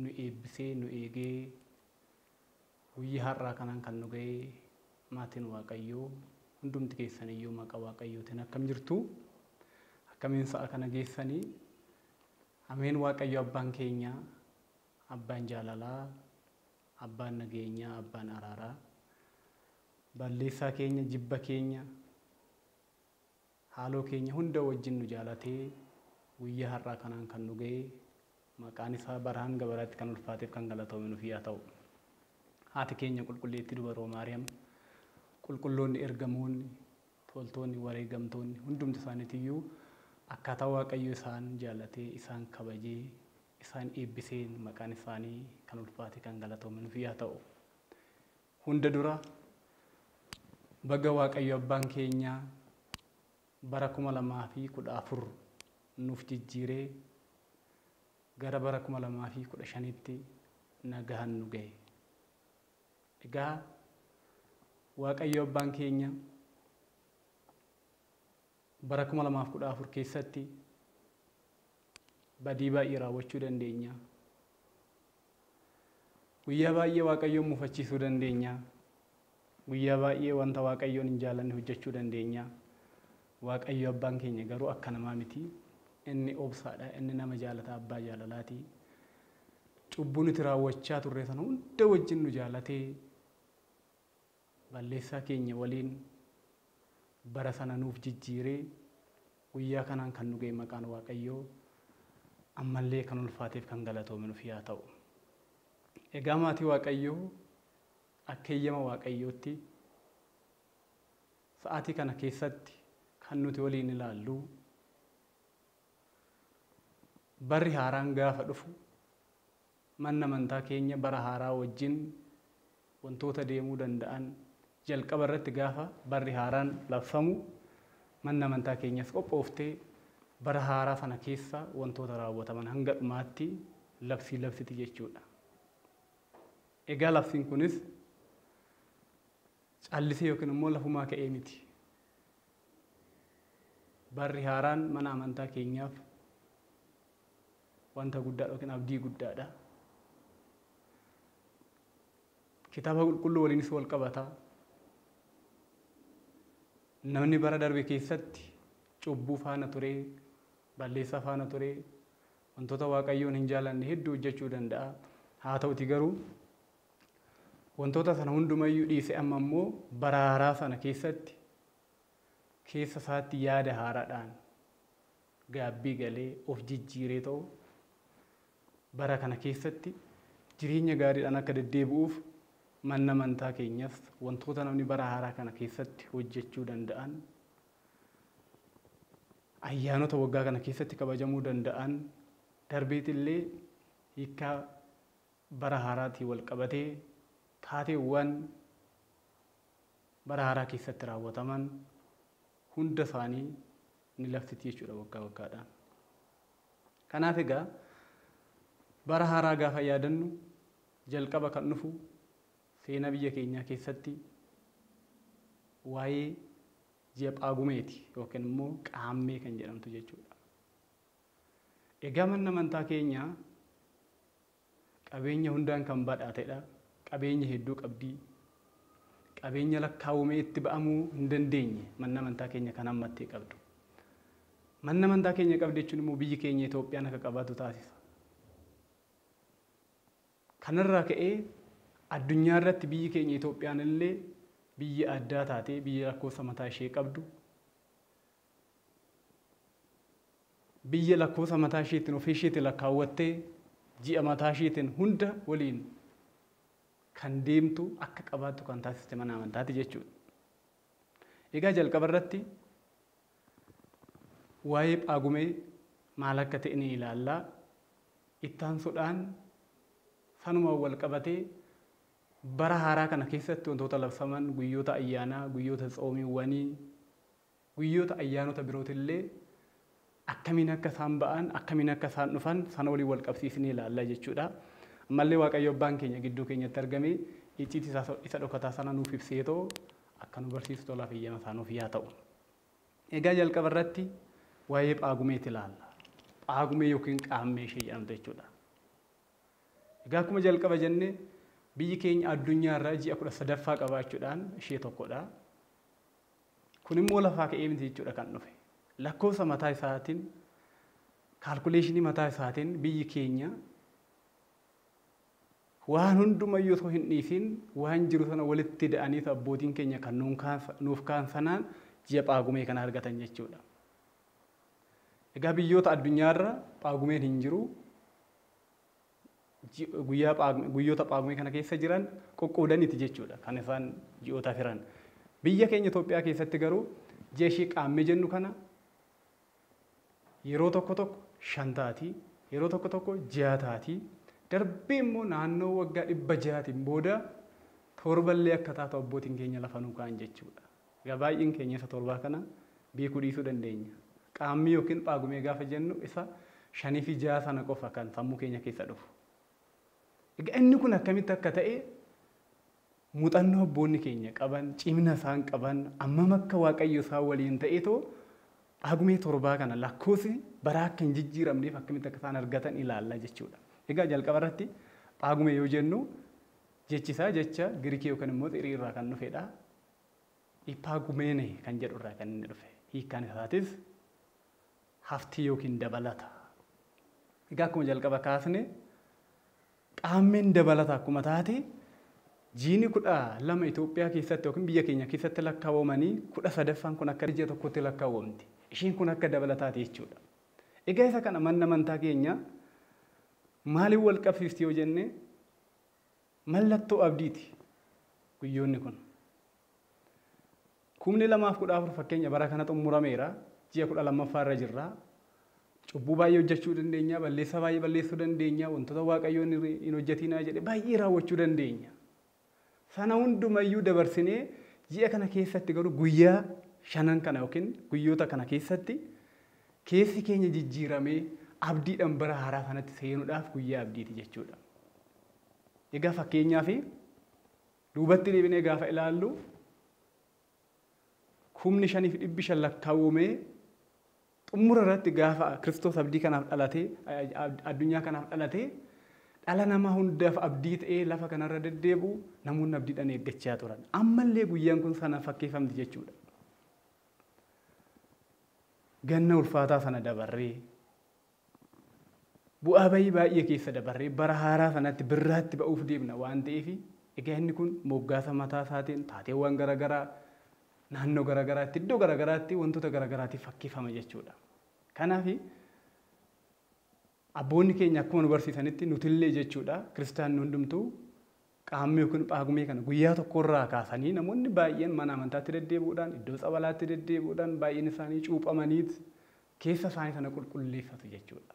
nu eebbisee nu eegee guyyaa har'aa kanaan kan nu ga'e maatiin Waaqayyoo hundumti keessan iyyuu maqaa Waaqayyootiin akkam jirtu? Akkamiin sa'a kana geessanii? Ameen Waaqayyo abbaan keenya, abbaan jaalalaa, abbaan nageenyaa, abbaan araaraa, balleessaa keenya, jibba keenya, Haaloo keenya hunda wajjin nu jaalatee guyyaa har'aa kanaan kan nu ga'e maqaan isaa bara hanga baraatti kan ulfaateef kan galatoome nuf yaa ta'u. Haati keenya Qulqulleettii Dubaroo Maariyaam, Qulqulloonni Ergamoonni, Toltoonni, Wareegamtoonni hundumti isaaniitiyyuu akkaataa Waaqayyo isaan jaalatee, isaan kabajee, isaan eebbiseen maqaan isaanii kan ulfaatee kan galatoome nuf yaa ta'u. Hunda dura baga Waaqayyo Abbaan keenya bara 2014 nuuf jijjiiree gara bara 2015tti nagahan nu gahe. Egaa Waaqayyo Abbaan keenya bara 2014 keessatti badii baay'ee raawwachuu dandeenya. Guyyaa baay'ee Waaqayyoon mufachiisuu dandeenya. Guyyaa baay'ee wanta Waaqayyoon hin jaalanne hojjechuu dandeenya. Waaqayyo abbaan keenya garuu akka namaa miti. Inni obsaadha, inni nama jaalata, abbaa jaalalaati. Cubbuu nuti raawwachaa turre sana hunda wajjin nu jaalatee Balleessaa keenya waliin bara sana nuuf jijjiiree guyyaa kanaan kan nu ga'e maqaan Waaqayyoo ammallee kan ulfaateef kan galatoome nuf yaa ta'u. Egaa maatii Waaqayyoo akka eeyyama Waaqayyootti sa'aatii kana keessatti kan nuti waliin ilaallu barri haaraan gaafa dhufu Manni amantaa keenya bara haaraa wajjin wantoota deemuu danda'an jalqaba irratti gaafa barri haaraan labsamu manni amantaa keenyas qophooftee bara haaraa sana keessa wantoota raawwataman hanga dhumaatti labsii labsiti jechuudha. Egaa labsiin kunis callisee yookiin immoo lafumaa ka'ee miti. Barri haaraan mana amantaa keenyaaf wanta guddaadha yookiin abdii guddaadha. Kitaaba qulqulluu waliinis wal qabata. Namni bara darbe keessatti cubbuu faana turee, balleessaa faana turee, wantoota waaqayyoon hin jaalanne hedduu hojjechuu danda'a. Haa ta'uti garuu wantoota sana hundumayyuu dhiise amma immoo bara haaraa sana keessatti keessa isaatti yaada haaraadhaan gaabbii galee, of jijjiiree ta'u bara kana keessatti jireenya gaariidhaan akka deddeebi'uuf manna amantaa keenyas wantoota namni bara haaraa kana keessatti hojjechuu danda'an, ayyaanota waggaa kana keessatti kabajamuu danda'an, darbeet illee hiikkaa bara haaraatiin wal qabatee taateewwan bara haaraa keessatti raawwataman hunda isaanii ni laftiti jechuudha waggaa waggaadhaan. Kanaaf egaa bara haaraa gaafa yaadannu jalqaba kan dhufu seenaa biyya keenyaa keessatti waa'ee ji'a Phaagumeeti yookiin immoo Qaammee kan jedhamtu jechuudha. Egaa manni amantaa keenya Qabeenya hundaan kan badhaatedha. Qabeenya hedduu qabdi. Qabeenya lakkaawwamee itti ba'amuu hin dandeenye manni amantaa keenya kan hammattee qabdu. Manni amantaa keenya qabdi jechuun immoo biyyi keenya Itoophiyaan akka qabaatu taasisa. Kanarraa ka'ee addunyaa irratti biyyi keenya Itoophiyaan illee biyya addaa taatee biyya lakkoofsa mataa ishee qabdu Biyya lakkoofsa mataa ishiitiin ofii ishiitiin lakkaawwattee ji'a mataa ishiitiin hunda waliin kan deemtu akka qabaattu kan taasiste mana amantaati jechuudha. Egaa jalqaba irratti waa'ee phaagumee maal akka ta'e ni ilaalla. Ittaansuudhaan sanumaan wal qabatee bara haaraa kana keessatti wantoota labsaman guyyoota ayyaanaa, guyyoota tsoomiiwwanii, Guyyoota ayyaanota birootillee akkamiin akka isaan ba'an, akkamiin akka isaan dhufan sana waliin wal qabsiisnee ilaalla jechuu dha. Ammallee Waaqayyo Abbaan keenya gidduu keenyatti argamee icciitii isaa isa dhokataa sana nuuf ibseetoo akka nu barsiisu tolaaf eeyyama isaa nuuf yaa ta'u. Egaa jalqaba irratti waa'ee Phaagumeeti ilaalla. Phaagumee yookiin qaammee ishee jedhamtu jechuu dha. Egaa akkuma jalqaba jenne biyyi keenya addunyaa irraa ji'a kudha sadaffaa qabaachuudhaan ishee tokko dha. Kun immoo lafaa ka'ee miti jechuudha kan dhufe. Lakkoofsa mataa isaatiin, kaalkuleeshinii mataa isaatiin biyyi keenya waan hundumayyuu osoo hin dhiisiin waan jiru sana walitti ida'anii abbootiin keenya kan nuun kaansa- nuuf kaan sanaan ji'a Phaagumee kana argatan jechuudha. Egaa biyyoota addunyaarra Phaagumeen hin jiru. guyyaa Phaagme, guyyoota Phaagmee kana keessa jiran qoqqoodaniiti jechuudha kan isaan ji'ootaaf hiran. Biyya keenya Itoophiyaa keessatti garuu ji'a ishee Qaammee jennu kana yeroo tokko tokko shan taati, yeroo tokko tokko ja'a taati. Darbee immoo naannoo waggaa dhibba ja'aatiin booda torballee akka taatu abbootiin keenya lafa nuu kaa'an jechuudha. Egaa baay'een keenya isa torbaa kana beekuu dhiisuu dandeenya. Qaammee yookiin Phaagumee gaafa jennu isa shaniifi ja'a sana qofa kan sammuu keenya keessa dhufu. Egaa inni kun akkamitti akka ta'e muuxannoo abboonni keenya qaban, cimina isaan qaban, ammam akka Waaqayyo isaan waliin ta'eetoo Phaagumee torbaa kana lakkoofsi baraa akka hin jijjiiramneef akkamitti akka isaan argatan ilaalla jechuudha. Egaa jalqaba irratti Phaagumee yoo jennu jechi isaa jecha Girikii yookiin immoo Xirii irraa kan dhufedha. Ipaagumene kan jedhu irraa kan inni dhufe. Hiikkaan isaatis haftii yookiin dabalata. Egaa akkuma jalqaba kaasne qaammeen dabalata akkuma taate jiini kudha lama Itoophiyaa keessatti yookiin biyya keenya keessatti lakkaawamanii kudha sadaffaan kun akka ji'a tokkotti lakkaawamti. Isheen kun akka dabalataati jechuudha. Egaa isa kana manna amantaa keenya maaliin wal qabsiisti yoo jenne Mallattoo abdiiti guyyoonni kun. Kumni lamaaf kudha afur fakkeenya bara kana xummurameera. Ji'a kudha lammaffaa irra jirra. Cubbuu baay'ee hojjechuu dandeenya, balleessaa baay'ee balleessuu dandeenya, wantoota Waaqayyoon hin- hin hojjetinaa jedhe baay'ee raawwachuu dandeenya. Sana hundumayyuu dabarsinee ji'a kana keessatti garuu guyyaa shanan kana yookiin guyyoota kana keessatti keessi keenya jijjiiramee abdiidhaan bara haaraa kanatti seenuudhaaf guyyaa abdiiti jechuudha. Egaa fakkeenyaaf duubatti deebinee gaafa ilaallu kumni shaniif dhibbi shan lakkaawwamee xumura irratti gaafa Kiristoos abdii kanaaf dhalatee addunyaa kanaaf dhalatee dhala namaa hundaaf abdii ta'ee lafa kanarra deddeebi'u namoonni abdiidhaan eeggachaa turan. Ammallee guyyaan kun sana fakkeeffamti jechuudha. Ganna ulfaataa sana dabarree Bu'aa ba'ii baay'ee keessa dabarree bara haaraa sanatti birraatti ba'uuf deemna waan ta'eef egaa inni kun moggaasa mataa isaatiin taateewwan gara garaa naannoo gara garaatti iddoo gara garaatti wantoota gara garaatiif fakkeeffama jechuudha. Kanaaf abboonni keenya akkuma nu barsiisanitti nutillee jechuudha kiristaanni hundumtuu Qaammee yookiin Phaagumee kana guyyaa tokko irraa kaasanii namoonni baay'een mana amantaatti deddeebi'uudhaan, iddoo tsabalaatti deddeebi'uudhaan baay'een isaanii cuuphamaniit keessa isaanii sana qulqulleeffatu jechuudha.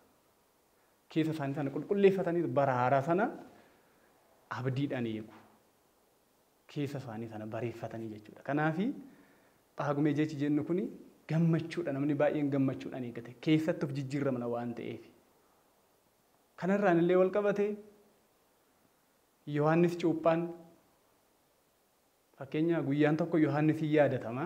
Keessa isaanii sana qulqulleeffataniit bara haaraa sana abdiidhaan eegu. Keessa isaanii sana bareeffatanii jechuudha. Kanaaf Phaagumee jechi jennu kun gammachuudha. Namni baay'een gammachuudhaan eeggate. Keessatti of jijjiirramna waan ta'eef. Kanarraan illee wal qabate Yohaannis Cuuphaan fakkeenya guyyaan tokko Yohaannis hin yaadatama.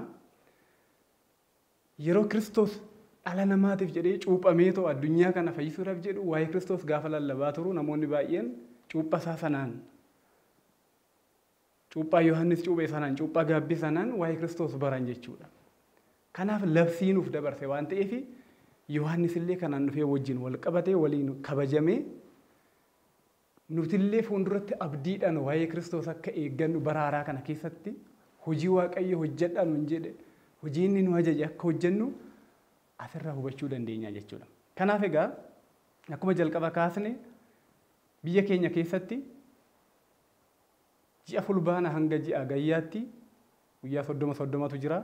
Yeroo Kiristoos dhala namaatiif jedhee cuuphamee too addunyaa kana fayyisuudhaaf jedhu waa'ee Kiristoos gaafa lallabaa turu namoonni baay'een cuuphaa isaa sanaan cuuphaa Yohaannis cuuphee sanaan cuuphaa gaabbii sanaan waa'ee Kiristoos baran jechuudha. Kanaaf labsii nuuf dabarse waan ta'eef Yohaannis illee kanaan dhufee wajjin wal qabatee waliin kabajamee Nutillee fuulduratti abdiidhaan waa'ee Kiristoos akka eeggannu bara haaraa kana keessatti hojii Waaqayyo hojjedhaa nuun jedhe, hojii inni nu ajaje akka hojjennu asirraa hubachuu dandeenya jechuudha. Kanaaf egaa akkuma jalqaba kaasne biyya keenya keessatti ji'a fulbaana hanga ji'a hagayyaatti guyyaa soddoma soddomatu jira.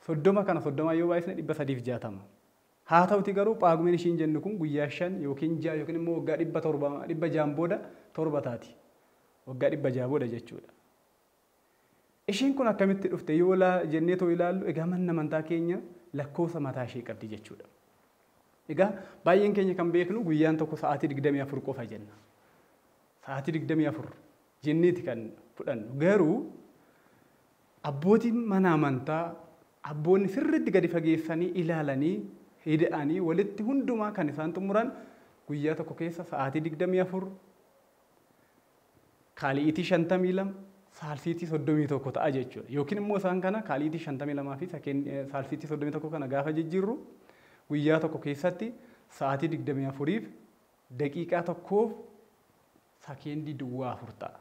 Soddoma kana soddomaan yoo baay'isne dhibba sadiif jaatama. Haata'uti garuu Phaagumeen ishiin jennu kun guyyaa shan yookiin ja'a yookiin immoo waggaa dhibba torba, dhibba ja'an booda torba taati. Waggaa dhibba ja'a booda jechuudha. Ishiin kun akkamitti dhufte yoo laa jennee too ilaallu egaa manni amantaa keenya lakkoofsa mataa ishee qabdi jechuudha. Egaa baay'een keenya kan beeknu guyyaan tokko sa'aatii digdamii afur qofa jenna. Sa'aatii digdamii afur jenneeti kan fudhannu. Garuu abbootiin mana amantaa Abboonni sirriitti gadi fageessanii ilaalanii, ida'anii walitti hundumaa kan isaan xumuran guyyaa tokko keessa sa'aatii 24, kaali'iitii 52, saalsiitii 31 ta'a jechuudha. Yookiin immoo isaan kana kaali'iitii 52 fi saalsiitii 31 kana gaafa jijjiirru guyyaa tokko keessatti sa'aatii 24f daqiiqaa tokkoof sakeendii duwwaa afur ta'a.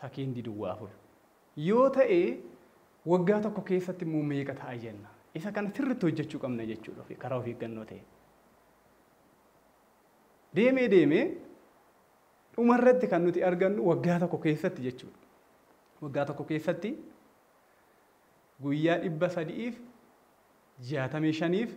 Sakeendii duwwaa afur yoo ta'e waggaa tokko keessatti immoo meeqa ta'a jenna? Isa kana sirriitti hojjechuu qabna jechuudha ofi- karaa of eeggannoo ta'een. Deemee deemee dhuma irratti kan nuti argannu waggaa tokko keessatti jechuudha. Waggaa tokko keessatti guyyaa dhibba sadi'iif jaatamii shaniif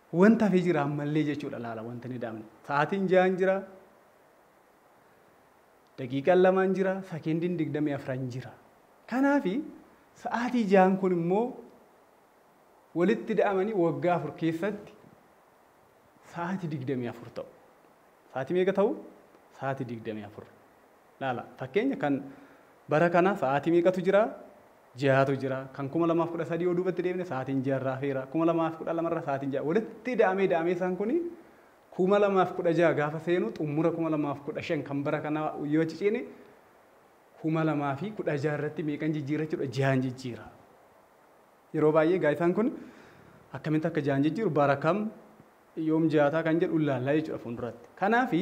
Wanti hafe jira ammallee jechuudha laala wanti hin ida'amne. Sa'aatiin ja'aan jira. Daqiiqaan lamaan jira. Sakendiin digdamii afran jira. Kanaafi sa'aatii ja'aan kun immoo walitti ida'amanii waggaa afur keessatti sa'aatii digdamii afur ta'u. Sa'aatii meeqa ta'u? Sa'aatii digdamii afur. Laala fakkeenya kan bara kana sa'aatii meeqatu jira? Ja'atu jira. Kan 2013 yoo duubatti deebine sa'aatiin ja'a irraa hafeera. 2012 irra sa'aatiin ja'a. Walitti ida'amee ida'amee isaan kuni 2016 gaafa seenu xumura 2015 kan bara kana yoo achi ceene 2016 irratti meeqan jijjiira jechuudha? Ja'an jijjiira. Yeroo baay'ee gaa isaan kun akkamitti akka ja'an jijjiiru bara kam yoom ja'ataa kan jedhu ilaallaa jechuudha fuulduratti. Kanaafi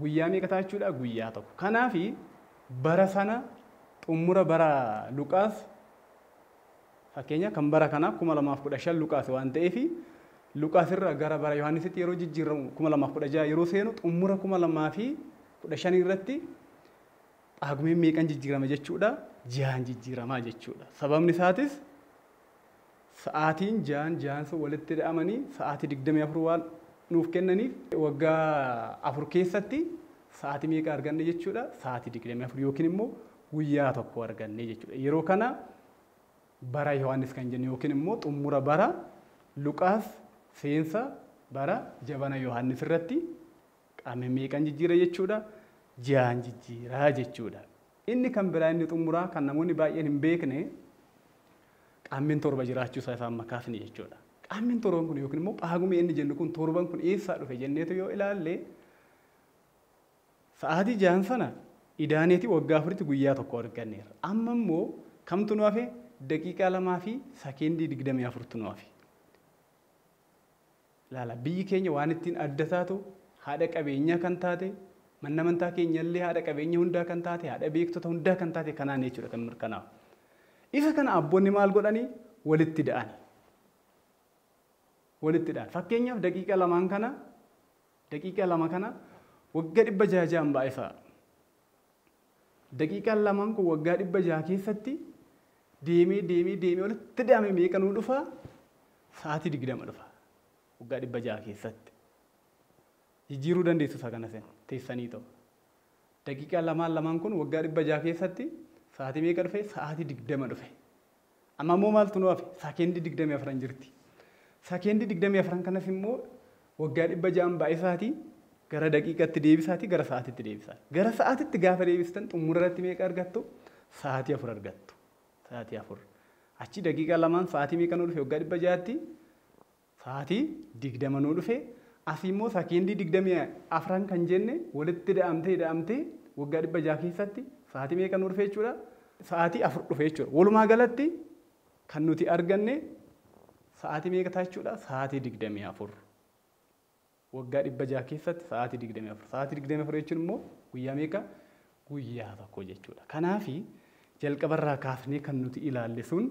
Guyyaa meeqa ta'a jechuudha? Guyyaa tokko. Kanaaf bara sana xumura bara Luqaas fakkeenya kan bara kanaa 2015 Luqaas waan ta'eef Luqaas irraa gara bara Yohaannisitti yeroo jijjiirramu 2016 yeroo seenu xumura 2015 irratti Phaagumeen meeqan jijjiirama jechuudha? Ji'aan jijjiiramaa jechuudha. Sababni isaatis sa'aatiin ja'an ja'an sun walitti ida'amanii sa'aatii 24 waan nuuf kennaniif waggaa afur keessatti sa'aatii meeqa arganne jechuudha sa'aatii 24 yookiin immoo guyyaa tokko arganne jechuudha yeroo kana bara Yohaannis kan jennu yookiin immoo xumura bara Luqaas seensa bara jabana Yohaannis irratti Qaamni meeqan jijjiira jechuudha? Ja'an jijjiira jechuudha. Inni kan biraa inni xumuraa kan namoonni baay'een hin beekne qaammin torba jiraachuu isaa isaan makaafni jechuudha. Qaammin torban kun yookiin immoo paagumee inni jennu kun torban kun eessaa dhufe jenneetu yoo ilaalle sa'aatii ja'an sana idaaneeti waggaa afuritti guyyaa tokko arganneerra. Amma immoo kamtu nu hafe daqiiqaa lamaa fi sakeendii digdamii afurtu nu hafe. Ilaala, biyyi keenya waan ittiin adda taatu, haadha qabeenyaa kan taate, manni amantaa keenya illee haadha qabeenya hundaa kan taate, haadha beektota hundaa kan taate kanaani jechuudha kan mirkanaa'u. Isa kana abboonni maal godhani? Walitti da'ani. Walitti da'an. Fakkeenyaaf daqiiqa lamaan kana, daqiiqa lama kana wagga dhibba jaha jahan baay'isaa. Daqiiqaan lamaan kun waggaa dhibba jaha keessatti deemee deemee deemee walitti daamee meeqa nuu dhufa? Sa'aatii digdama dhufa. Waggaa dhibba jaha keessatti. Jijjiiruu dandeessu isa kana isin teessanii ta'u. Daqiiqaa lamaan lamaan kun waggaa dhibba jaha keessatti sa'aatii meeqa dhufe? Sa'aatii digdama dhufe. Amma immoo maaltu nu hafe? Sakeendii 24n jirti. Sakeendii 24n kanas immoo waggaa 600n baay'isaati gara daqiiqatti deebisaati gara sa'aatitti deebisaa. Gara sa'aatitti gaafa deebistan xumura irratti meeqa argattu? Sa'aatii 4 argattu. Sa'aatii 4. Achi daqiiqaa lamaan sa'aatii meeqa nu dhufe waggaa 600tti? Saati digdama nuu dhufe asi immoo sakendii digdamii afran kan jenne walitti ida'amte ida'amte waggaa dhibba ja'a keessatti saati meeqa nuu dhufe jechuudha? Sa'aati afur dhufe jechuudha. Walumaa galatti kan nuti arganne sa'aati meeqa ta'a jechuudha? Sa'aati digdamii afur. Waggaa dhibba ja'a keessatti sa'aati digdamii afur. Sa'aati digdamii afur jechuun immoo guyyaa meeqa? Guyyaa tokko jechuudha. Kanaafi jalqabarraa kaasnee kan nuti ilaalle sun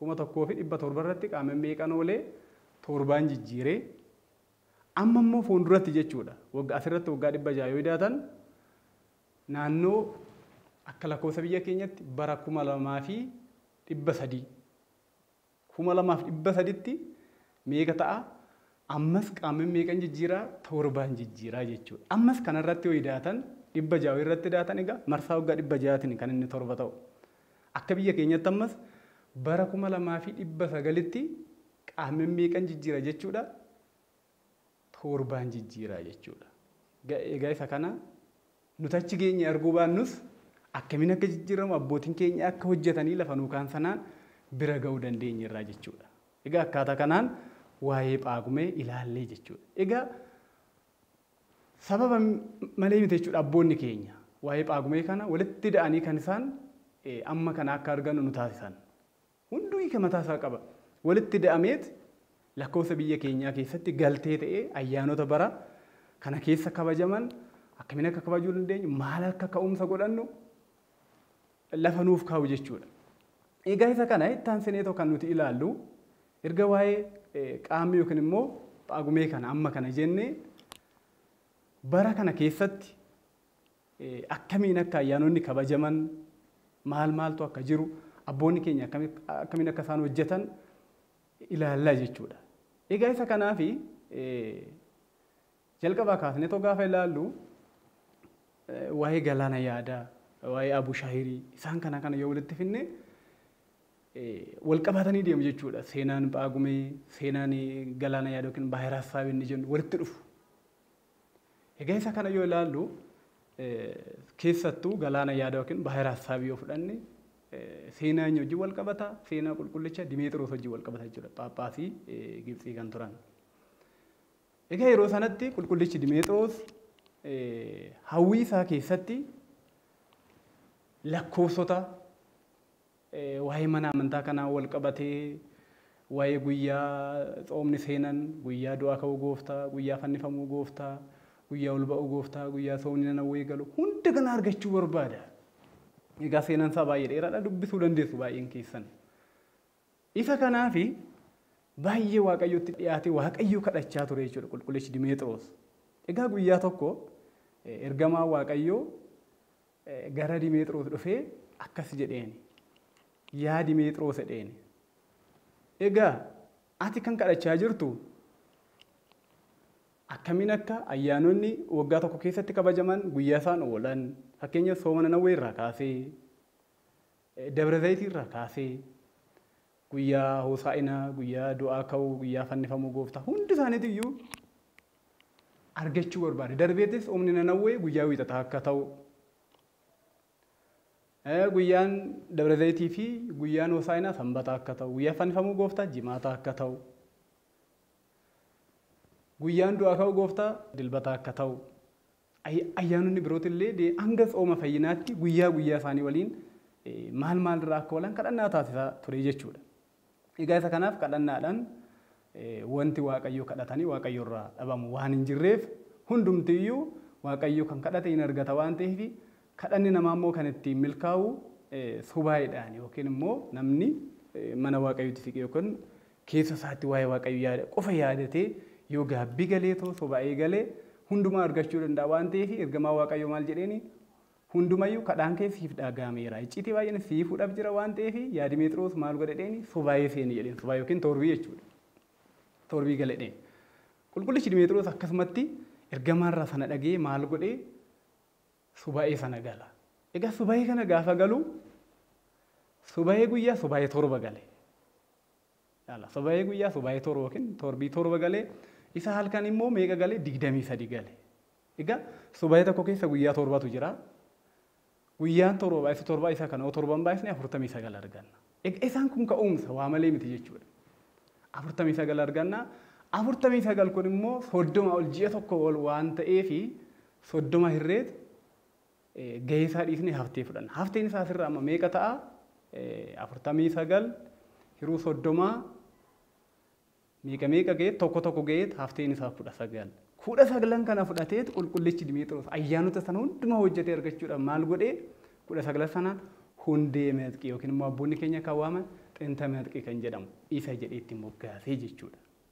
1700 irratti qaama meeqan oolee toorbaan jijjiire amma immoo fuulduratti jechuudha wagga asirratti waggaa 600 yoo idaatan naannoo akka lakkoofsa biyya keenyatti bara 2300 2300tti meeqa ta'a ammas qaama meeqan jijjiiraa toorbaan jijjiiraa jechuudha ammas kanarratti yoo idaatan 600 irratti idaatan egaa marsaa waggaa 600tiin kan inni torba ta'u Akka biyya keenyatti ammas bara 2900tti qaammeen meeqan jijjiira jechuudha? Toorbaan jijjiira jechuudha. Egaa isa kana nuti achi geenye arguu baannus akkamiin akka jijjiiramu abbootiin keenya akka hojjetanii lafa nuu kaan sanaan bira ga'uu dandeenye irraa jechuudha. Egaa akkaataa kanaan waa'ee phaagumee ilaallee jechuudha. Egaa Sababa malee miti jechuudha abboonni keenya waa'ee Phaagumee kana walitti ida'anii kan isaan amma kana akka argannu nu taasisan. Hunduu hiika mataa isaa qaba. Walitti ida'ameet lakkoofsa biyya keenyaa keessatti galtee ta'ee ayyaanota bara kana keessa kabajaman akkamiin akka kabajuu dandeenyu, maal akka ka'umsa godhannu lafa nuuf kaa'u jechuudha. Egaa isa kana itti aansineetoo kan nuti ilaallu Erga waa'ee Qaammee yookiin immoo Phaagumee kana amma kana jenne bara kana keessatti akkamiin akka ayyaanonni kabajaman maal maaltu akka jiru abboonni keenya akkamiin akka isaan hojjetan ilaallaa jechuudha. Egaa isa kanaafi Jalqabaa kaasnee otoo gaafa ilaallu waa'ee Galaana Yaadaa, waa'ee Abushahirii isaan kana kana yoo walitti fidne wal qabaatanii deemu jechuudha. Seenaan Phaagumee, seenaan Galaana Yaadaa yookiin Baahira Hassaabii inni jennu walitti dhufu. Egaa isa kana yoo ilaallu keessattuu Galaana Yaadaa yookiin Baahira Hassaabii yoo fudhanne seenaa inni wajjin wal qabata, seenaa qulqullicha Dimeexiroos wajjin wal qabata jechuudha. Phaaphaasii Gibtsii kan turan. Egaa yeroo sanatti qulqullichi Dimeexiroos hawwii isaa keessatti lakkoofsota waa'ee mana amantaa kanaa wal qabatee waa'ee guyyaa tsoomni seenan, guyyaa du'aa ka'uu gooftaa, guyyaa fannifamuu gooftaa, guyyaa ol ba'uu gooftaa, guyyaa tsoomni nanawwee galu hunda kana argachuu barbaada. Egaa seenan isaa baay'ee dheeraadha dubbisuu dandeessu baay'een keessan. Isa kanaaf baay'ee Waaqayyotti dhiyaatee Waaqayyo kadhachaa ture jechuudha qulqullichi Dimeexiroos. Egaa guyyaa tokko ergamaa Waaqayyoo gara Dimeexiroos dhufee akkas jedheeni. Yaa Dimeexiroos jedheeni. Egaa ati kan kadhachaa jirtu akkamiin akka ayyaanonni waggaa tokko keessatti kabajaman guyyaa isaan oolan fakkeenya sooma nanawwee irraa kaasee Dabra Zayitii irraa kaasee, guyyaa Hoosaa'inaa, guyyaa du'aa ka'uu, guyyaa fannifamuu Gooftaa hundi isaaniitu iyyuu argachuu barbaade. Darbeetis humni Nanawwee guyyaa wiixataa akka ta'u, guyyaan Dabra Zayitii fi guyyaan Hoosaa'inaa sanbata akka ta'u, guyyaa fannifamuu Gooftaa jimaata akka ta'u, guyyaan du'aa ka'uu Gooftaa dilbata akka ta'u Ayyaanonni birooti illee hanga tsooma fayyinaatti guyyaa guyyaa isaanii waliin maal maal irraa akka oolan kadhannaa taasisaa ture jechuudha. Egaa isa kanaaf kadhannaadhaan wanti Waaqayyo kadhatanii Waaqayyo irraa dhabamu waan hin jirreef hundumti iyyuu Waaqayyo kan kadhate hin argata waan ta'eef kadhanni namaa immoo kan ittiin milkaa'u subaayiidhaan yookiin immoo namni mana Waaqayyootti siqee yookiin Keessa isaatti waa'ee Waaqayyo yaada qofa yaadatee yoo gaabbii galeetoo soba eegale hundumaa argachuu danda'a waan ta'eef ergamaa Waaqayyoo maal jedheeni hundumayyuu kadhaan kee siif dhaagaameera icciitii baay'een sii fuudhaf jira waan ta'eef yaadi Meexiroos maal godhe dheeni sobaayee seeni jedheen sobaa yookiin toorbii jechuudha toorbii gale dheen qulqullichi Dimeexiroos akkasumatti ergamaarraa sana dhagee maal godhe subaa'ee sana gala egaa subaa'ee kana gaafa galu subaa'ee guyyaa subaa'ee torba gale Ilaala subayee guyyaa subayee torba yookiin torbii torba galee isa halkan immoo meeqa galee digdamii sadi gale. Egaa subayee tokko keessa guyyaa torbatu jira. Guyyaan torba baay'isu torba isa kana yoo torban baay'isne afurtamii sagal arganna. Egaa isaan kun ka'umsa waa malee miti jechuudha. Afurtamii sagal arganna. Afurtamii sagal kun immoo soddoma ol ji'a tokko ol waan ta'eefi soddoma hirreet gahee isaa dhiisnee haftee fudhanna. Hafteen isaa asirra amma meeqa ta'a? afurtamii sagal hiruu soddomaa meeqa meeqa ga'eet tokko tokko ga'eet hafteen isaa kudha sagal. Kudha saglan kana fudhateet qulqullichi Dimiixiroos ayyaanota sana hundumaa hojjetee argachuudhaan maal godhee kudha saglan sanaan hundee meexqii yookiin immoo abboonni keenya kan waaman xinta meexqii kan jedhamu isa jedhee itti moggaasee jechuudha.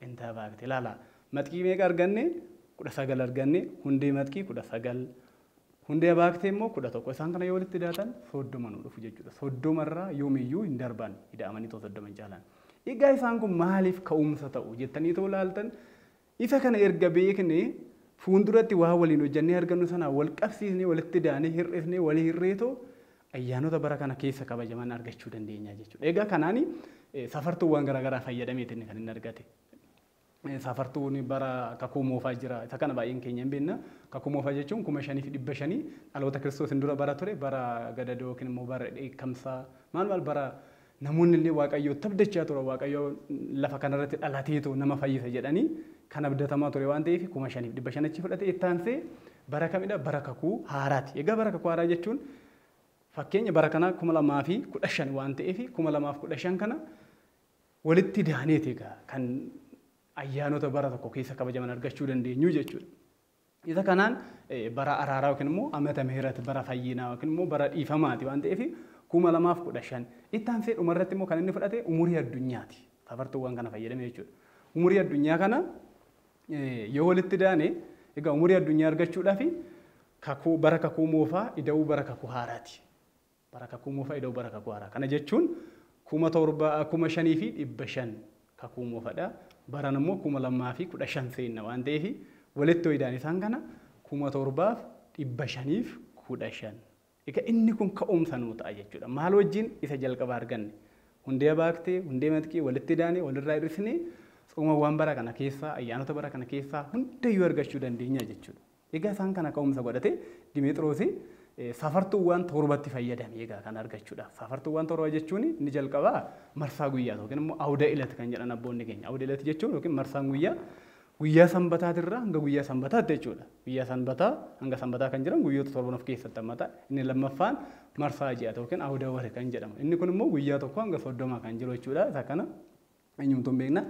Penta baakti ilaalaa. Maxkii meeqa arganne? 19 arganne. Hundee maxkii 19. Hundee baaktee immoo 11. Isaan kana yoo walitti idaatan 30 nu dhufu jechuudha. 30 irraa yoomiyyuu hin darban. Ida'amanii too 30 hin caalan. Egaa isaan kun maaliif ka'umsa ta'u jettanii too ilaaltan isa kana erga beekne fuulduratti waa waliin hojjannee argannu sanaa wal qabsiisnee walitti idaanee hir'ifnee walii hirreetoo ayyaanota bara kana keessa kabajaman argachuu dandeenya jechuudha. Egaa kanaani safartuuwwan garaagaraa fayyadameetiin kan inni argate. Safartuun bara kakuu moofaa jira. Isa kana baay'een keenya hin beekna. Kakuu moofaa jechuun kuma shanii fi dhibba shanii dhaloota kiristoosiin dura bara ture bara gadadoo yookiin immoo bara dheekkamsaa maal maal bara Namoonni illee Waaqayyootti abdachaa turan Waaqayyo lafa kana irratti dhalateetu nama fayyisa jedhanii kan abdatamaa ture waan ta'eef kuma shaniif dhibba shan achi fudhate itti aansee bara kamidha bara kakuu haaraati. Egaa bara kakuu haaraa jechuun fakkeenya bara kanaa kuma lamaa fi kudha shan waan ta'eef kuma lamaa fi kudha shan kana walitti daaneeti egaa kan ayyaanota bara tokko keessa kabajaman argachuu dandeenyu jechuudha. Isa kanaan bara araaraa yookiin immoo amata mihirati, bara fayyinaa yookiin immoo bara dhiifamaati waan ta'eef 2015. Itti aansee dhuma irratti immoo kan inni fudhate umurii addunyaati. Fafartuuwwan kana fayyadame jechuudha. Umurii addunyaa kana yoo walitti daane egaa umurii addunyaa argachuudhaaf kakuu bara kakuu moofaa ida'uu bara kakuu haaraati. Bara Kakuu Moofaa idoo bara Kakuu Haaraa. Kana jechuun 7000, 5500 Kakuu Moofadha. Barana immoo 2015 seenna waan ta'eef walitti yoo idaan isaan kana 7515. Egaa inni kun ka'umsa nuu ta'a jechuudha. Maal wajjin isa jalqaba arganne? Hundeeya baaktee, hundee matqii walitti idaanee, walirraa hir'isnee tsoomawwan bara kana keessaa, ayyaanota bara kana keessaa hundayyuu argachuu dandeenya jechuudha. Egaa isaan kana ka'umsa godhatee Dimeexiroosi safartuuwwaan torbatti fayyadame egaa kan argachuudhaaf. Safartuuwwaan torba jechuun inni jalqabaa marsaa guyyaati yookiin immoo awuda ilati kan jedhan abboonni keenya. Awuda ilati jechuun yookiin marsaan guyyaa guyyaa sanbataatirraa hanga guyyaa sanbataatti jechuudha. Guyyaa sanbataa hanga sanbataa kan jiran guyyoota torban of keessatti hammata. Inni lammaffaan marsaa ji'aati yookiin awuda wari kan jedhamu. Inni kun immoo guyyaa tokko hanga soddomaa kan jiru jechuudha. Isa kana eenyumtuu hin beekna.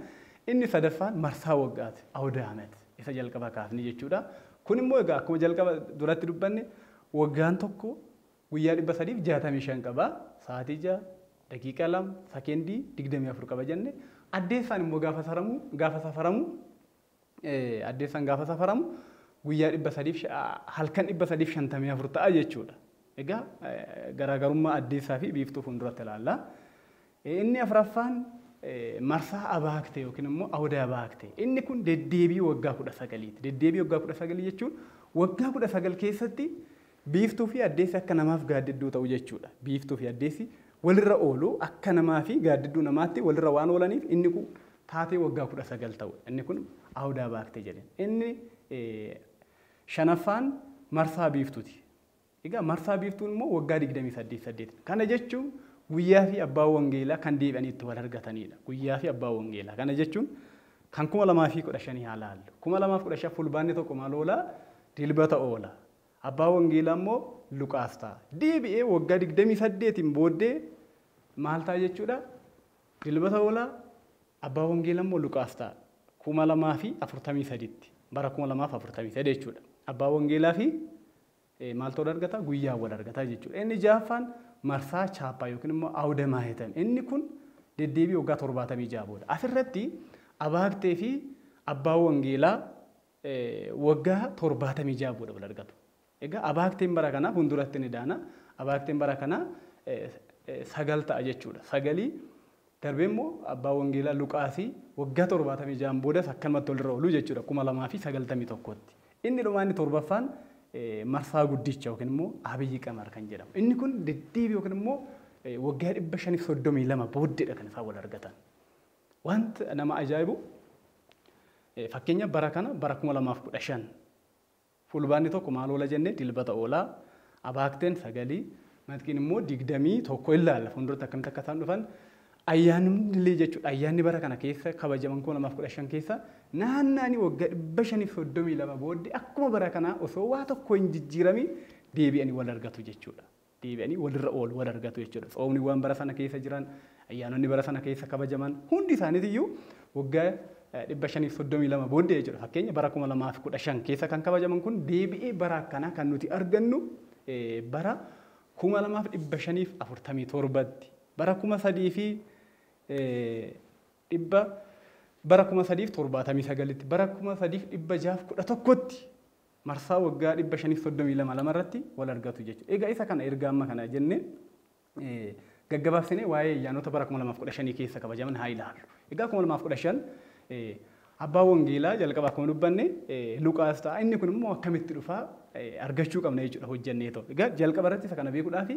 Inni sadaffaan marsaa waggaati, Awda Amet, isa jalqaba kaafne jechuudha. Kun immoo egaa akkuma jalqaba duratti dubbanne waggaan tokko guyyaa 365 qaba. Sa'aatii 6, daqiiqa 2, sakendii 24 qaba jenne. Addeessaan immoo gaafa saramu, gaafa safaramu addeessaan gaafa safaramu guyyaa 300 fi halkan 354 ta'a jechuudha. Egaa garaagarummaa addeessaa fi biiftuu fuulduratti ilaalla. Inni afraffaan marsaa abaaktee yookiin immoo awuda abaaktee. Inni kun deddeebii waggaa 19ti. Deddeebii waggaa 19 jechuun waggaa 19 keessatti Biiftuu fi addeessi akka namaaf gaaddidduu ta'u jechuu dha. Biiftuu fi addeessi walirra oolu akka namaa fi gaaddidduu namaatti walirra waan oolaniif inni ku taatee waggaa 19 ta'u dha. Inni kun Awdaa Baaktee jedheen. Inni shanaffaan marsaa biiftuu ti. Egaa marsaa biiftuun immoo waggaa 28 saddeet dha. Kana jechuun guyyaa fi abbaan wangeelaa kan deebi'anii itti wal argatanii dha. Guyyaa fi abbaan wangeelaa. Kana jechuun kan 2015 haa laallu. 2015 fulbaanni tokko maal oola? Dilbata oola. Abbaa wangeelaa immoo Luqaas ta'a. Deebi'ee waggaa 28n booddee maal ta'a jechuudha? Dilbata oola, abbaa wangeela immoo Luqaas ta'a. 2043tti, bara 2043 jechuudha. Abbaa wangeelaa fi maaltu wal argata? Guyyaa wal argata jechuudha. Inni ja'affaan marsaa chaappaa yookiin immoo awuda maahitam. Inni kun deddeebii waggaa 76 booda. Asirratti abaagtee fi abbaa wangeelaa waggaa 76 booda wal argatu. Egaa abaakteen bara kanaa funduratti ni daana. Abaakteen bara kanaa sagal ta'a jechuudha. Sagalii darbee immoo abbaa wangeelaa Luqaasii waggaa 76 boodas akkanumatti walirra ooluu jechuudha 2091tti. Inni dhumaa inni torbaffaan marsaa guddicha yookiin immoo abiyyi qamar kan jedhamu. Inni kun deddeebi yookiin immoo waggaa 532 booddeedha kan isaan wal argatan. Waanti nama ajaa'ibu fakkeenyaaf bara kana bara 2015 Fulbaanni 1 maal oola jennee Dilbata oola, Abaakteen 9, Matqiin immoo 21 ilaalla fuulduratti akkamitti akka isaan dhufan. Ayyaanillee jechuudha ayyaanni bara kana keessa kabajaman 2015 keessa naannaanii waggaa 532 booddee akkuma bara kanaa osoo waa tokko hin jijjiiramiin deebi'anii wal argatu jechuudha. deebi'anii walirra oolu, wal argatu jechuudha. Tsoomniwwan bara sana keessa jiran, ayyaanonni bara sana keessa kabajaman hundi isaaniitiyyuu waggaa 532 booddee jechuudha. Fakkeenya bara 2015 keessa kan kabajaman kun deebi'ee bara akkanaa kan nuti argannu bara 2547tti. Bara 3000 fi dhibba bara 3079tti, bara 3611tti marsaa waggaa 532 lama irratti wal argatu jechuudha. Egaa isa kana erga amma kana jennee gaggabaabsinee waa'ee ayyaanota bara 2015 keessa kabajaman haa ilaallu. Egaa 2015 abbaa wangeelaa jalqaba akkuma dubbanne Luqaas ta'a. Inni kun immoo akkamitti dhufaa argachuu qabna jechuudha hojjennee ta'u. Egaa jalqaba irratti isa kana beekuudhaaf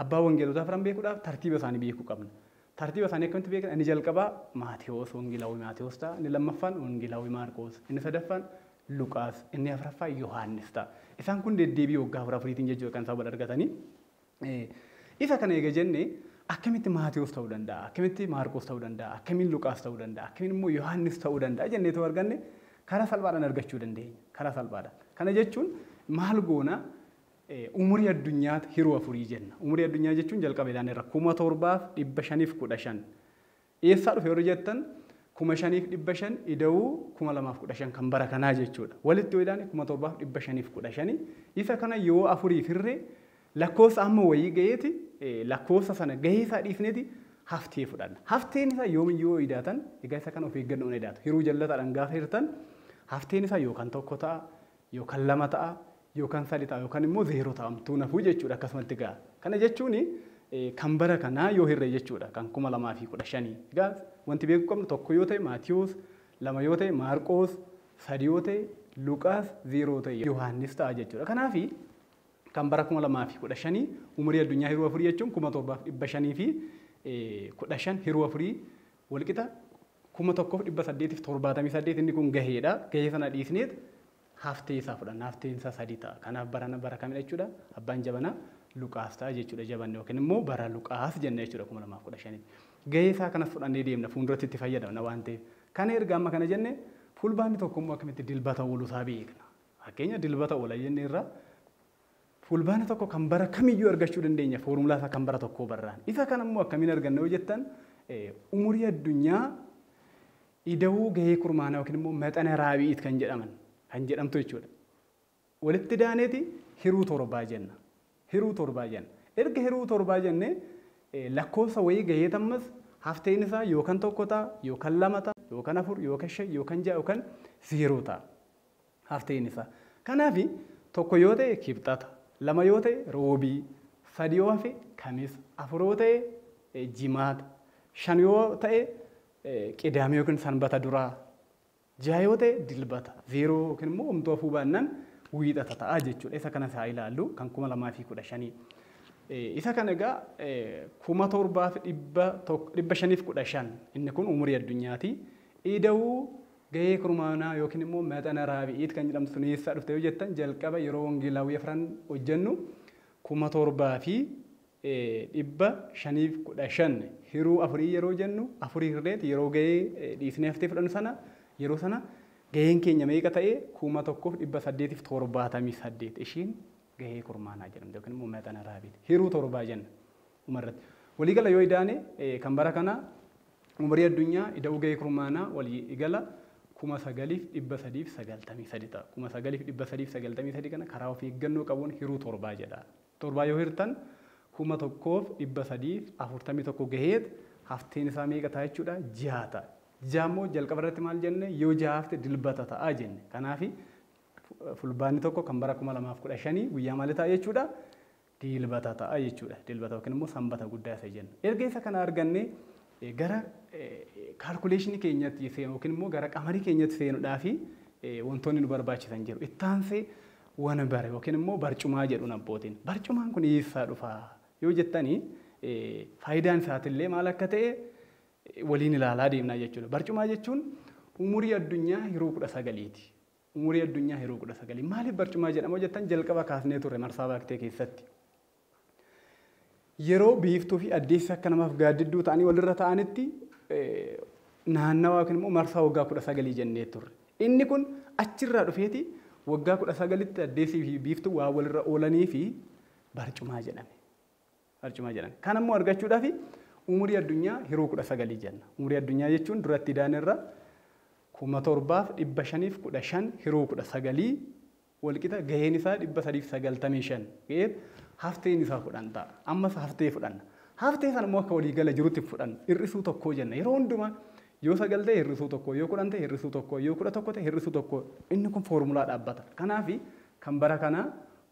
abbaa wangeelotaa firan beekuudhaaf tartiiba isaanii beekuu qabna. Tartiiba isaanii akkamitti beekna? Inni jalqabaa Maatewos, Wongeelaawwii Maatewos ta'a. Inni lammaffaan Wongeelaawwii Maarqoos. Inni sadaffaan Luqaas. Inni afraffaa Yohaannis ta'a. Isaan kun deddeebii waggaa afur afuriitiin jechuudha kan isaan wal argatanii. Isa kana eega jenne akkamitti Maatewos ta'uu danda'a? Akkamitti Maarqoos ta'uu danda'a? Akkamiin Luqaas ta'uu danda'a? Akkamiin immoo Yohaannis ta'uu danda'a jennee ta'uu arganne karaa salphaadhaan argachuu dandeenya. Karaa salphaadhaan. Kana jechuun maal goona? Umurii addunyaat hiruu afurii jenna. Umurii addunyaa jechuun jalqaba ilaaneerra 7515. Eessaa dhufe warri jettan 5500 ida'uu 2015 kan bara kanaa jechuudha. Walitti yoo ilaane 7515. Isa kana yoo afuriif hirre lakkoofsa hamma wayii gaheeti lakkoofsa sana gahee isaa dhiifneeti haftee fudhanna. Hafteen isaa yoomiyyuu yoo idaatan egaa isa kana of eeggannoon idaatu. Hiruu jallataadhaan gaafa hirtan hafteen isaa yookaan tokko ta'a yookan lama ta'a yookan sadhi ta'a yookan immoo zeero ta'a homtuu hin hafuu jechuudha akkasumatti egaa kana jechuun kan bara kanaa yoo hirre jechuudha kan kuma lamaa fi kudha shanii egaa wanti beekuu qabnu tokko yoo ta'e maatiyoos lama yoo ta'e maarqoos sadi yoo ta'e luqaas zeero yoo ta'e yohaannis ta'a jechuudha kanaaf kan bara kuma lamaa fi kudha shanii umurii addunyaa hiruu afurii jechuun kuma torbaaf dhibba shanii fi kudha shan hiruu afurii walqixa 1878 inni kun gaheedha. Gahee sana dhiisneet haftee isaa fudhanna. Hafteen isaa sadii ta'a. Kanaaf barana bara kamidha jechuudha? Abbaan jabanaa Luqaas ta'a jechuudha jabanni yookiin immoo bara Luqaas jenna jechuudha 2015tti. Gahee isaa kanas fudhannee deemna fuulduratti itti fayyadamna waan ta'eef. Kana erga amma kana jenne fulbaanni tokko immoo akkamitti dilbata ooluu isaa beekna. Fakkeenya dilbata oola jenneerra Fulbaana 1 kan bara kamiyyuu argachuu dandeenya foormulaa isaa kan bara tokkoo barraan. Isa kana immoo akkamiin arganna yoo jettan umurii addunyaa ida'uu gahee kurmaanaa yookiin immoo maxana raabi'iit kan jedhaman kan jedhamtu jechuudha. Walitti daaneeti hiruu torbaa jenna. Hiruu torbaa jenna. Erga hiruu torbaa jennee lakkoofsa wayii gaheet ammas hafteen isaa yookan tokko ta'a, yookan lama ta'a, yookan afur, yookan shan, yookan ja'a, yookan zeeroo ta'a. haftee inni fa. Kanaafi, tokko yoo ta'e Kibxata, lama yoo ta'e Roobii, sadi yoo hafe Kamisa, afur yoo ta'e Jimaata, shan yoo ta'e Qidaamee yookiin Sanbata duraa, jaha yoo ta'e Dilbata, zeeroo yookiin immoo homtuu hafuu baannan Wiixata ta'a jechuudha. Isa kanas haa ilaallu kan 2015. Isa kana egaa 7515 inni kun umurii addunyaati. Ida'uu Gahee kurmaanaa yookiin immoo Mexana Raabi'iit kan jedhamtu sun eessaa dhufte yoo jettan jalqaba yeroo Wangeelaawwii Afran hojjennu 7515 hiruu afurii yeroo jennu afurii hirreeti yeroo gahee dhiisnee haftee fudhannu sana yeroo sana gaheen keenya meeqa ta'e 1878 ishiin gahee kurmaanaa jedhamte yookiin immoo Mexana Raabi'iit hiruu torbaa jenna. Dhuma irratti. Walii gala yoo idaane kan bara kanaa umurii addunyaa ida'uu gahee kurmaanaa walii gala 9393 ta'a. 9393 kana karaa of eeggannoo qabuun hiruu torbaa jedha. Torbaa yoo hirtan 1341 gaheet hafteen isaa meeqa ta'a jechuudha? Jaha ta'a. Jaha immoo jalqaba irratti maal jenne yoo jaha hafte dilbata ta'a jenne. Kanaafi fulbaanni tokko kan bara 2015 guyyaa maali ta'a jechuudha? Dilbata ta'a jechuudha. Dilbata yookiin immoo Sanbata guddaa isa jennu. Erga isa kana argannee gara kaalkuleeshinii keenyatti seenu yookiin immoo gara qamarii keenyatti seenudhaafi wantoonni nu barbaachisan jiru. Itti aansee wanbar yookiin immoo barcumaa jedhuun abbootiin. Barcumaan kun eessaa dhufa yoo jettanii faayidaan isaatillee maal akka ta'e waliin ilaalaa deemnaa jechuudha. Barcumaa jechuun umurii addunyaa yeroo kudha sagaliiti. Umurii Addunyaa yeroo 19 maaliif barcumaa jedhama yoo jettan jalqaba kaasnee turre marsaa baaktee keessatti. Yeroo biiftuu fi addeessi akka namaaf gaaddidduu ta'anii walirra ta'anitti naannawaa yookiin immoo marsaa waggaa 19 jennee turre. Inni kun achirraa dhufeeti waggaa 19tti addeessii fi biiftuu waan walirra oolanii fi barcumaa jedhame. Barcumaa jedhan. Kana immoo argachuudhaafi umurii addunyaa hiruu 19 jenna. Umurii addunyaa jechuun duratti idaan irra 7515 hiruu 19 walqixa gaheen isaa 395 ga'eef hafteen isaa 10 ta'a. Ammas haftee fudhanna. Haftee sana immoo akka waliigala jirutti fudhanna. Hir'isuu tokkoo jenna. Yeroo hundumaa yoo 9 ta'e hir'isuu tokkoo, yoo 10 ta'e hir'isuu tokkoo, yoo 11 ta'e hir'isuu tokkoo inni kun foormulaa dhaabbata. Kanaafi kan bara kanaa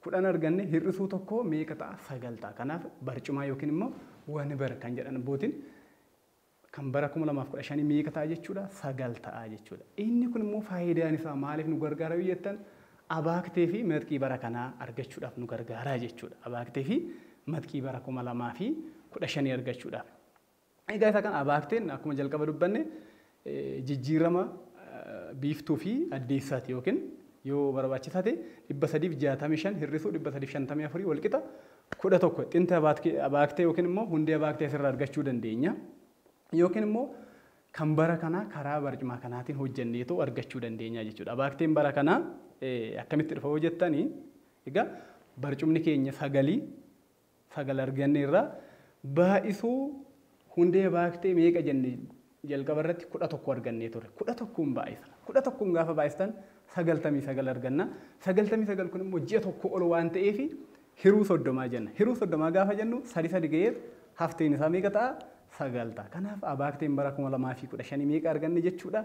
10 arganne hir'isuu tokkoo meeqa ta'a? 9 ta'a. Kanaaf barcumaa yookiin immoo wonber kan jedhan abbootiin kan bara 2015 meeqa ta'a jechuudha? 9 ta'a jechuudha. Inni kun immoo faayidaan isaa maaliif nu gargaara yoo jettan abaaktee fi matqii bara kanaa argachuudhaaf nu gargaaraa jechuudha. Abaaktee fi matqii bara 2015 argachuudhaaf. Egaa isa kana abaakteen akkuma jalqaba dubbanne jijjiirama biiftuu fi addeessaati yookiin yoo barbaachisaa ta'e 365 hir'isuu 354 walqixa 11 xinta abaaktee yookiin immoo hundee abaaktee asirraa argachuu dandeenya. Yookiin immoo kan bara kanaa karaa barcumaa kanaatiin hojjenneetoo argachuu dandeenya jechuudha. Abaakteen bara kanaa akkamitti dhufa yoo jettanii egaa barcumni keenya sagalii sagal arganneerra. Baay'isuu hundee baaktee meeqa jenne jalqaba irratti kudha tokko argannee turre. kudha tokkoon baay'isna. kudha tokkoon gaafa baay'istan sagaltamii sagal arganna. sagaltamii sagal kun immoo ji'a tokko ol waan ta'eef hiruu soddomaa jenna. Hiruu soddomaa gaafa jennu sadi sadi ga'eet hafteen isaa meeqa ta'a? sagal ta'a. Kanaaf abaakteen bara kuma lamaa fi kudha shanii meeqa arganne jechuudha?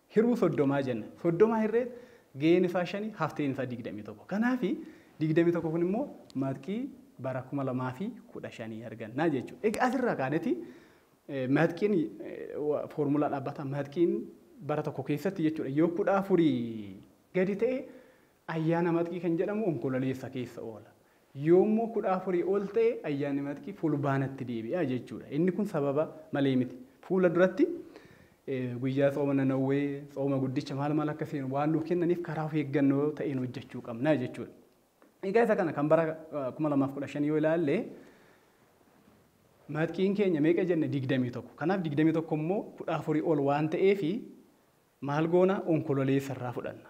Hiruu soddomaa jenna. Soddomaa hirreet gaheen isaa shani hafteen isaa digdamii tokko. Kanaafi digdamii tokko kun immoo matqii bara kuma lamaa fi kudha shanii argannaa jechuudha. Egaa asirraa kaaneti matqiin foormulaa dhaabbataa matqiin bara tokko keessatti jechuudha yoo kudha afurii gadi ta'e Ayyaana Maxkii kan jedhamu Onkololeessa keessa oola. Yoommoo 14 ol ta'e Ayyaanni Maxkii Fulbaanatti deebi'a jechuudha. Inni kun sababa malee miti. Fuula duratti guyyaa tsooma Nanawwee, tsooma guddicha maal maal akka seenu waan nuuf kennaniif karaa of eeggannoo ta'een hojjechuu qabna jechuudha. Egaa isa kana kan bara 2015 yoo ilaalle Maxkiin keenya meeqa jenne 21. Kanaaf 21 immoo 14 ol waan ta'eef maal goona onkololeessa irraa fudhanna.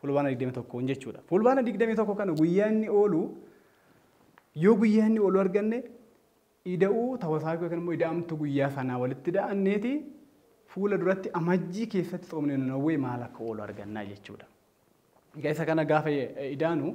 Fulbaana 21n jechuudha. Fulbaana 21 kana guyyaa inni oolu yoo guyyaa inni oolu arganne ida'uu tawasaakuu yookiin immoo ida'amtuu guyyaa sanaa walitti ida'anneeti fuula duratti amajjii keessatti xoomni nanawwee maal akka oolu argannaa jechuudha. Egaa isa kana gaafa idaanu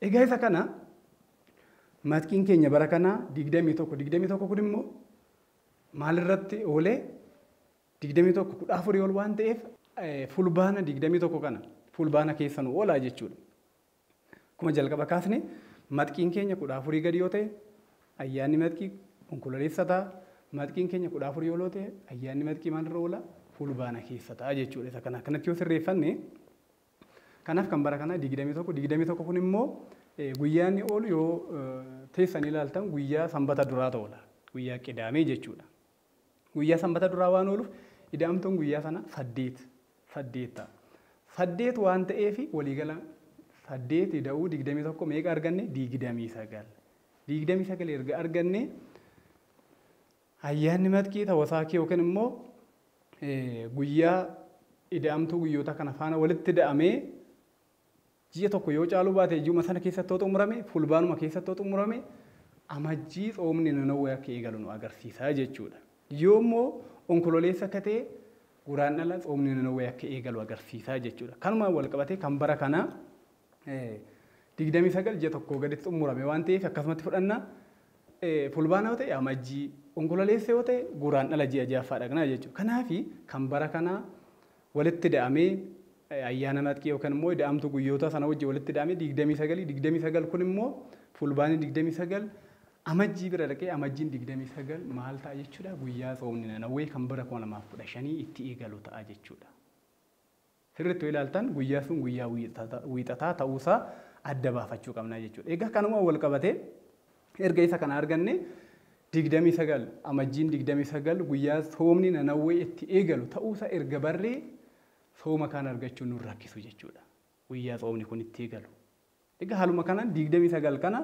Egaa isa kana matkiin keenya bara kanaa 21 21 kun immoo maalirratti oolee 21 kudha afurii ol waan ta'eef fulbaana 21 kana fulbaana keessa nu oolaa jechuudha. Akkuma jalqaba kaasne matkiin keenya kudha afurii gadi yoo ta'e ayyaanni matkii onkololeessa ta'a. Matkiin keenya kudha afurii ol yoo ta'e ayyaanni matkii maalirra oola fulbaana keessa ta'a jechuudha. Isa kana akkanatti yoo sirreeffanne Kanaaf kan bara kanaa 21, 21 kun immoo guyyaa inni oolu yoo teessanii ilaaltan guyyaa sanbata duraatu oola. Guyyaa qidaamee jechuudha. Guyyaa sanbata duraa waan ooluuf ida'amtuun guyyaa sana saddeet saddeet ta'a. Saddeet waan ta'eef waliigala saddeet ida'uu 21 meeqa arganne 29. 29 erga arganne Ayyaanni Matkii Tawasaakii yookiin immoo guyyaa ida'amtuu guyyootaa kana faana walitti ida'amee ji'a tokko yoo caaluu baate ji'uma sana keessatti yoo xumurame fulbaanuma keessatti yoo xumurame amajjii tsoomni nanawwee akka eegalu nu agarsiisa jechuudha. Yoo immoo onkololeessa akka ta'e guraandhala tsoomni nanawwee akka eegalu agarsiisa jechuudha. Kanumaan wal qabatee kan bara kanaa 29 ji'a tokkoo gaditti xumurame waan ta'eef akkasumatti fudhanna. Fulbaana yoo ta'e amajjii, onkololeessa yoo ta'e guraandhala ji'a ja'affaa dhaqna jechuudha. Kanaaf kan bara kanaa walitti ida'amee ayyaana natqii yookaan immoo ida'amtuu guyyoota sana wajjin walitti ida'amee 29 29 kun immoo fulbaanii 29 amajjii bira dhaqee amajjiin 29 maal ta'a jechuudha guyyaa soomni nanawwee kan bara 2015 itti eegalu ta'a jechuudha. sirriitti yoo ilaaltan guyyaa sun guyyaa wiixataa ta'uusaa adda baafachuu qabna jechuudha. Egaa kanuma wal qabatee erga isa kana arganne 29 amajjiin 29 guyyaa soomni nanawwee itti eegalu ta'uusa erga barree sooma kaan argachuun nun rakkisu jechuudha. Guyyaa soomni kun itti eegalu. Egaa haaluma kanaan 29 kana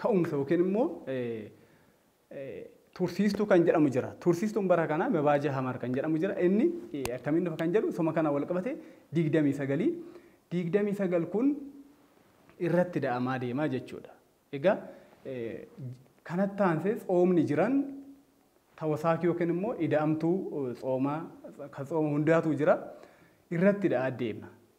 ka'umsa yookiin immoo tursiistuu kan jedhamu jira. Tursiistuun bara kanaa mebaaja hamar kan jedhamu jira. Inni akkamiin dhufa kan jedhu soma kana wal qabate 29 29 kun irratti da'amaa deemaa jechuudha. Egaa kanatti aansee tsoomni jiran tawasaakii yookiin immoo ida'amtuu tsoomaa kan tsooma hundaatuu jira irratti da'aa deema.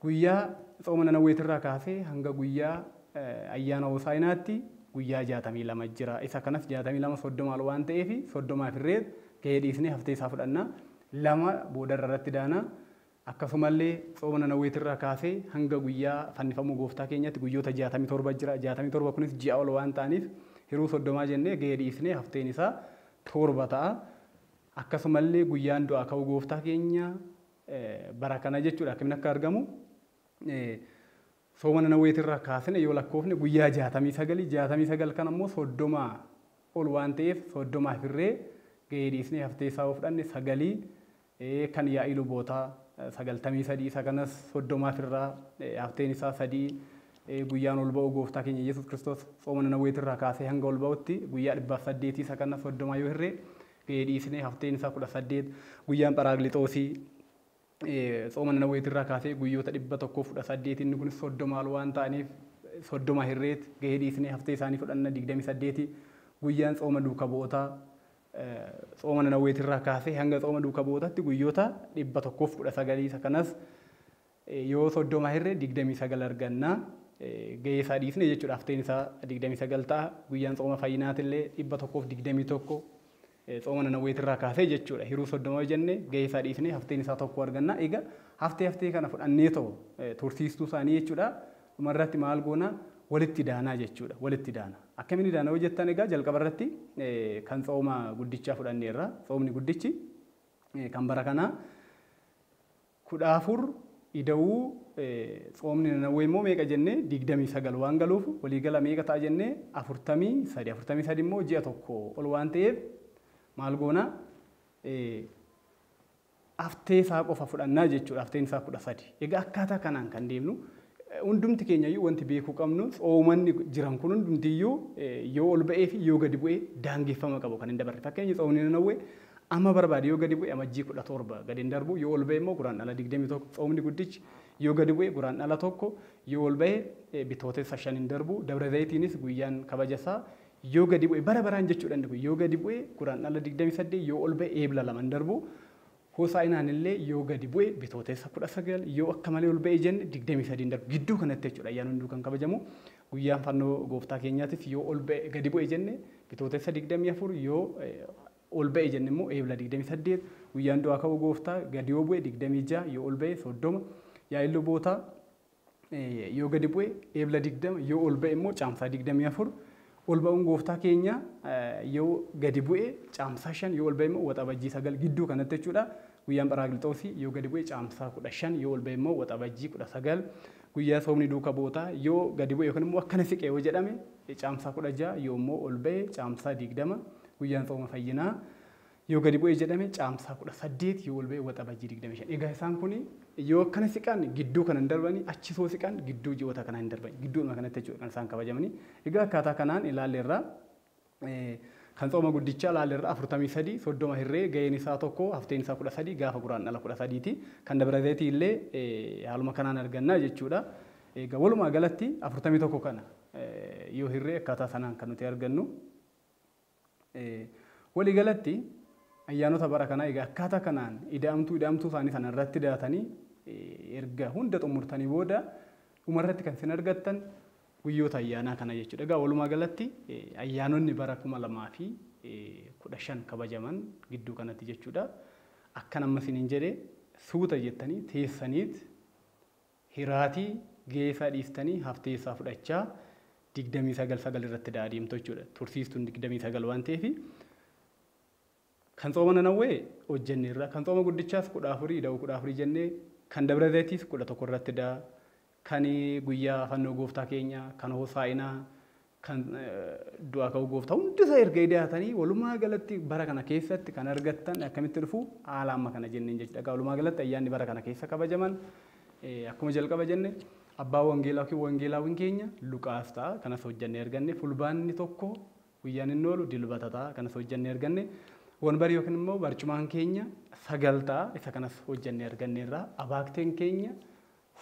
Guyyaa tsooma Nanawweetirraa kaasee hanga guyyaa ayyaana Hoosaa'inaatti guyyaa 62 jira. Isa kanas 62 30 ol waan ta'eef 30 afirree gahee dhiisnee haftee isaa fudhanna. 2 boodarra irratti daana. Akkasumallee tsooma Nanawweetirraa kaasee hanga guyyaa fannifamuu Gooftaa keenyaatti guyyoota 67 jira. 67 kunis ji'a ol waan ta'aniif hiruu 30 jennee gahee dhiisnee hafteen isaa 7 ta'a. Akkasumallee guyyaan du'aa ka'uu Gooftaa keenya bara kana jechuudha akkamiin akka argamu sooma nanaweetirraa kaasne yoo lakkoofne guyyaa jaatamii sagalii jaatamii sagal kan ammoo soddomaa ol waan ta'eef soddomaa firree gahee dhiisnee haftee isaa fudhanne sagalii kan yaa'ii lubootaa sagaltamii sadii isa kanas soddomaa firraa hafteen isaa sadii guyyaan ol ba'u gooftaa keenya Yesuus Kiristoos sooma nanaweetirraa kaasee hanga ol ba'utti guyyaa dhibbaaf saddeetii isa kana soddomaa yoo hirree Ee, dhiisnee hafteen isaa 18, guyyaan Pharaagliixoosii, ee, tsooma Nanawweetii irraa kaasee guyyoota 118, inni kunis 30 ol waan ta'aniif, 30 hirreet gahee dhiisnee haftee isaanii fudhanna 28, guyyaan tsooma duuka bu'ootaa, ee, tsooma Nanawweetii irraa kaasee hanga tsooma duuka bu'ootaatti guyyoota 119 isa kanas, Yoo 30 hirre 29 arganna. Gahee isaa dhiifne jechuudha. Hafteen isaa 29 ta'a. Guyyaan tsooma fayyinaatillee 121 tsooma nanawweetirraa kaasee jechuudha. Hiruu 30 yoo jenne gahee isaa dhiifne hafteen isaa tokko arganna. Egaa haftee haftee kana fudhannee too tursiistuu isaanii jechuudha. Dhumarratti maal goona? Walitti daanaa jechuudha. Walitti daana. Akkamiin daana yoo jettan egaa jalqabarratti kan tsooma guddichaa fudhanneerra. Tsoomni guddichi kan bara kanaa 14 ida'uu tsoomni Nanawwee immoo meeqa jenne 29 waan galuuf walii gala meeqa ta'a jenne 43 43 immoo ji'a tokko ol waan ta'eef maal goona haftee isaa qofa fudhannaa jechuudha hafteen isaa 13 egaa akkaataa kanaan kan deemnu Hundumti keenyayyuu wanti beekuu qabnu tsoomanni jiran kun hundumtiyyuu yoo ol ba'ee fi yoo gadi bu'e daangeffama qabu kan hin dabarre. Fakkeenya tsoomni Nanawwee amma barbaade yoo gadi bu'e Amajjii 17 gadi hin darbu yoo ol ba'e immoo Guraandhala 21 tsoomni guddichi yoo gadi bu'e Guraandhala 1 yoo ol ba'e Bitootessa 5 hin darbu Dabra Zayitiinis guyyaan kabaja isaa yoo gadi bu'e bara baraan jechuudha inni kun yoo gadi bu'e Guraandhala 28 yoo ol ba'e Eebla 2 hin darbu Hoosaa'inaan illee yoo gadi bu'e Bitootessa 19, yoo akka malee ol ba'e jenne 23n darba. Gidduu kanatti jechuudha ayyaanni hunduu kan kabajamu. Guyyaan fannoo gooftaa keenyaatis yoo ol ba'e gadi bu'e jenne Bitootessa 24, yoo ol ba'e jenne immoo Eebla 28, guyyaan du'aa ka'uu gooftaa gadi yoo bu'e 26, yoo ol ba'e 30. Yaa'iin lubootaa. yoo gadi bu'e Eebla 20, yoo ol ba'e immoo Caamsaa 24. Ol ba'uun gooftaa keenyaa yoo gadi bu'e Caamsaa 5, yoo ol ba'e immoo Waxabajjii 9 gidduu kanatti jechuudha. Guyyaan Pharaaqilixoosii yoo gadi bu'e Caamsaa 15, yoo ol ba'e immoo Waxabajjii 19. Guyyaa soomni duuka bootaa yoo gadi bu'e yookiin immoo akkana siqe yoo jedhame Caamsaa 16, yoo immoo ol ba'e Caamsaa 20. Guyyaan sooma fayyinaa Yoo gadi bu'e jedhame Caamsaa 18 yoo ol ba'e Waxabajjii 25. Egaa isaan kun yoo akkana siqan gidduu kana hin darbani achi soo siqan gidduu ji'oota kanaa hin darbani gidduudhuma kanatti jechuudha kan isaan kabajamani. Egaa akkaataa kanaan ilaalle irraa kan tsooma guddichaa ilaalle irraa 43 30 hirree ga'een isaa tokko hafteen isaa 13 gaafa guraan dhala 13 ti. Kan dabra zayitii illee haaluma kanaan arganna jechuudha. Egaa walumaa galatti 41 kana yoo hirree akkaataa sanaan kan nuti argannu. Waliigalatti, ayyaanota bara kanaa egaa akkaataa kanaan ida'amtuu ida'amtuu isaanii sana irratti daatanii erga hunda xumurtanii booda dhumarratti kan isin argattan guyyoota ayyaanaa kana jechuudha. Egaa walumaa galatti ayyaanonni bara kuma lamaa fi kudha shan kabajaman gidduu kanatti jechuudha. Akkan amma isiniin jedhe suuta jettanii teessaniit Hiraati gahee isaa dhiistanii haftee isaa fudhachaa 29 9 irratti da'a deemtu jechuudha. Tursiistuun 29 waan ta'eef kan tsooma nanawwee hojjenne irra kan tsooma guddichaas 14 ida'u 14 jennee kan dabra zaytiis 11 irratti da'a kan guyyaa fannoo gooftaa keenya kan hosaa'inaa kan du'aa ka'uu gooftaa hundisaa erga idaatanii walumaa galatti bara kana keessatti kan argattan akkamitti dhufu haala amma kana jenneen jechuudha. Egaa walumaa galatti ayyaanni bara kana keessa kabajaman akkuma jalqaba jenne abbaa wangeelaa yookiin wangeelaawwan keenya Luqaas ta'a kanas hojjannee arganne fulbaanni tokko guyyaan inni oolu dilbata ta'a kanas hojjannee arganne wanbari yookiin immoo barcumaan keenya sagal ta'a isa kanas hojjannee arganneerra abaakteen keenya